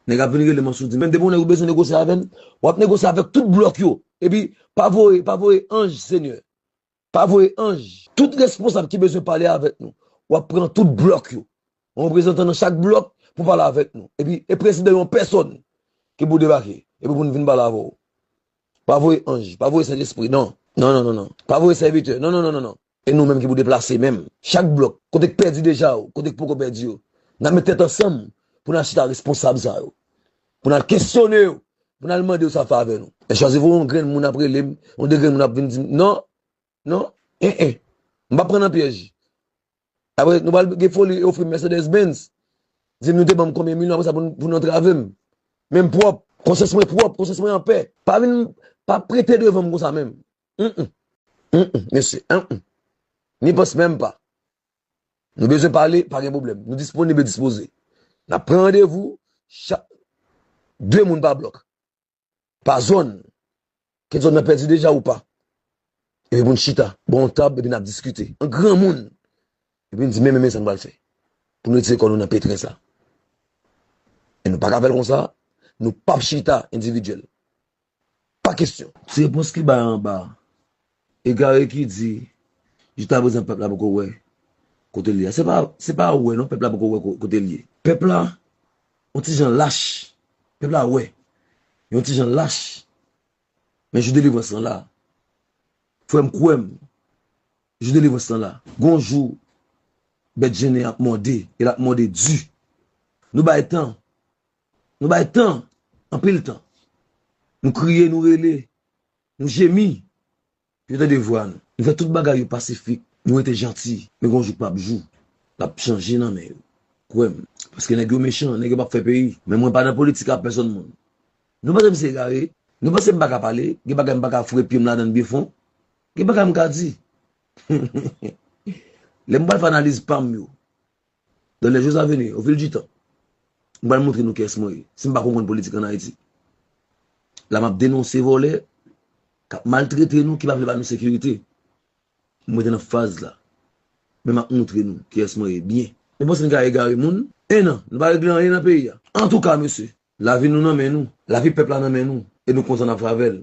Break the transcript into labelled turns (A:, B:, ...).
A: Nèg ap vin rele mansoudi men depi yon nèg ou bezwen negosye avèl wap negosye avèk tout blòk yo epi pa voye pa voye anj senyè pa voye anj tout responsab ki bezwen pale avèk nou wap pran tout blòk yo yon reprezantan nan chak blòk pou pale avèk nou epi e prezidan yon pèsòn ki pou debake epi pou n vin pale avèw pa voye anj pa voye sentespri non non non non non pa voye sèvitè non non non non non E nou menm ki pou deplase menm? Chak blòk, kote k pèdi deja ou kote k poko pèdi yo, n ap met tèt ansanm pou n al chita responsab sa yo, pou n al kesyone yo, pou n al mande yo sa favè nou. Lè chwazi voye yon grenn moun ap rele m, yon de grenn moun ap vin di m non, non, en en, m pa pran nan pyèj. Apre, nou pral gen foli e ofri m Mercedes Benz, di m nou te ban m konbyen milyon apre sa pou nou antrave m. Men m pwòp, konsyans mwen pwòp, konsyans mwen anpè. Pa vin, pa prete devan m konsa menm. Humm humm humm mesi humm humm ni pos menm pa Nou bezwen pale pa gen problem Nou disponib e dispoze Nap pran randevou chak 2 moun pa blok Pa zòn Ke zòn nan pèdi deja ou pa Epi poun chita bò yon tab epi nap diskite an granmoun Epi nou di men men men sa nou pral fè Poun retire kò nou nan petrin sa E nou paka fèl konsa Nou pap chita endividyèl Pa kesyon. Ti repons ki bay anba a. Egare ki di jiskaprezan pèp la poko wè kote l ye a. Se pa wè non pèp la poko wè kote l ye. Pèp la yon ti jan lach. Pèp la wè. Yon ti jan lach. Men jou delivrans lan la. Frè m kwè m. Jou delivrans lan la. Gon jou bèt jennen ap mòde. E l ap mòde di. Nou bay tan. Nou bay tan, anpil tan. Nou kriye, nou rele, nou jemi. Yo tande vwa nou. Nou fè tout bagay yo pasifik. Nou rete janti. Men gon jou k pap jou. L ap chanje nan men yo. Kwè m. Paske nèg yo mechan. Nèg yo pap fè peyi. Men mwen pa nan politik ak pèsonn moun. Nou panse m se egare? Nou panse m pa ka pale? Gen bagay m pa ka foure pye m ladan l byen fon? Gen bagay m ka di? Lè m pral fè analiz pa m yo. Dans les jours à venir, au fil du temps, m pral montre nou kiyès mwen ye. Si m pa konprann politik an Ayiti, la m ap denonse vòlè k ap maltrete nou, ki pa vle ba nou sekirite. M rete nan faz la, men m ap montre nou kiyès mwen ye byen. Nou panse n ka egare moun? 1 an, nou pa regle anyen nan peyi a. Antouka mesye, lavi nou nan men nou, lavi pèp la nan men nou, e nou kontan n ap fè avè l.